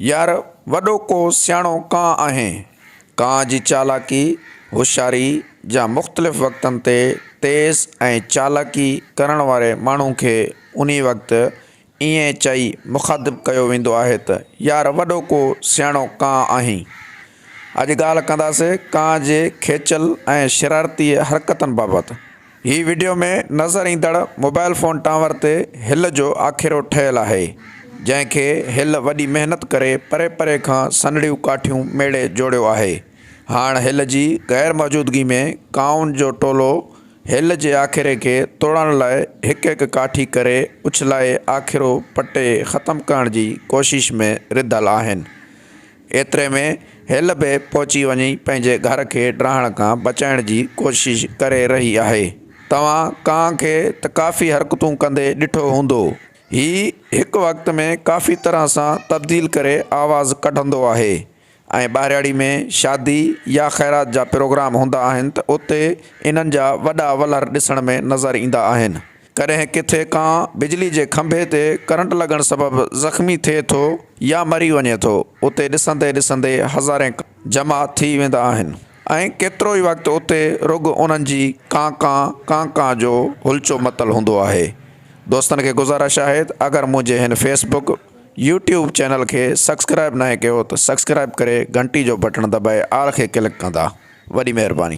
يار وڏو ڪو سياڻو ڪانء آهين. ڪانء جي چالاڪي، هوشياري جا مختلف وقتن تي تيز ۽ چالاڪي ڪرڻ واري ماڻهو کي انهي وقت ائين چئي مخاطب ڪيو ويندو آهي ته يار وڏو ڪو سياڻو ڪانء آهين. اڄ ڳالهه ڪنداسين ڪانء جي کيچل ۽ شرارتي حرڪتن بابت. هي وڊيو ۾ نظر ايندڙ موبائل فون ٽاور تي هل جو آکيرو ٺهيل آهي، جنهن کي هل وڏي محنت ڪري پري پري کان سنهڙيون ڪاٺيون ميڙي جوڙيو آهي. هاڻ هل جي غير موجودگي ۾ ڪائون جو ٽولو هل جي آکيري کي توڙڻ لاء هڪ هڪ ڪاٺي ڪري اڇلائي آکيرو پٽي ختم ڪرڻ جي ڪوشش ۾ رڌل آهن. ايتري ۾ هيل به پهچي وڃي پنهنجي گهر کي ڊاهڻ کان بچائڻ جي ڪوشش ڪري رهي آهي. توهان ڪانء کي ته ڪافي حرڪتون ڪندي ڏٺو هوندو. هي هڪ وقت ۾ ڪافي طرح سان تبديل ڪري آواز ڪڍندو آهي ۽ ٻاهراڙي ۾ شادي يا خيرات جا پروگرام هوندا آهن ته اتي انهن جا وڏا ولر ڏسڻ ۾ نظر ايندا آهن. ڪڏهن ڪٿي ڪانء بجلي جي کنڀي تي ڪرنٽ لڳڻ سبب زخمي ٿئي ٿو يا مري وڃي ٿو اتي ڏسندي ڏسندي هزارين جمع ٿي ويندا آهن ۽ ڪيترو ئي وقت اتي رڳ انهن جي ڪانء ڪانء ڪانء ڪانء جو هلچو متل هوندو آهي دوستن کي گذارش آهي ته اگر منهنجي هن Facebook YouTube channel کي سڪسڪرائب ناهي ڪيو ته سڪسڪرائب ڪري گهنٽي جو بٽڻ دٻائي آل کي ڪلڪ ڪندا وڏي مهرباني.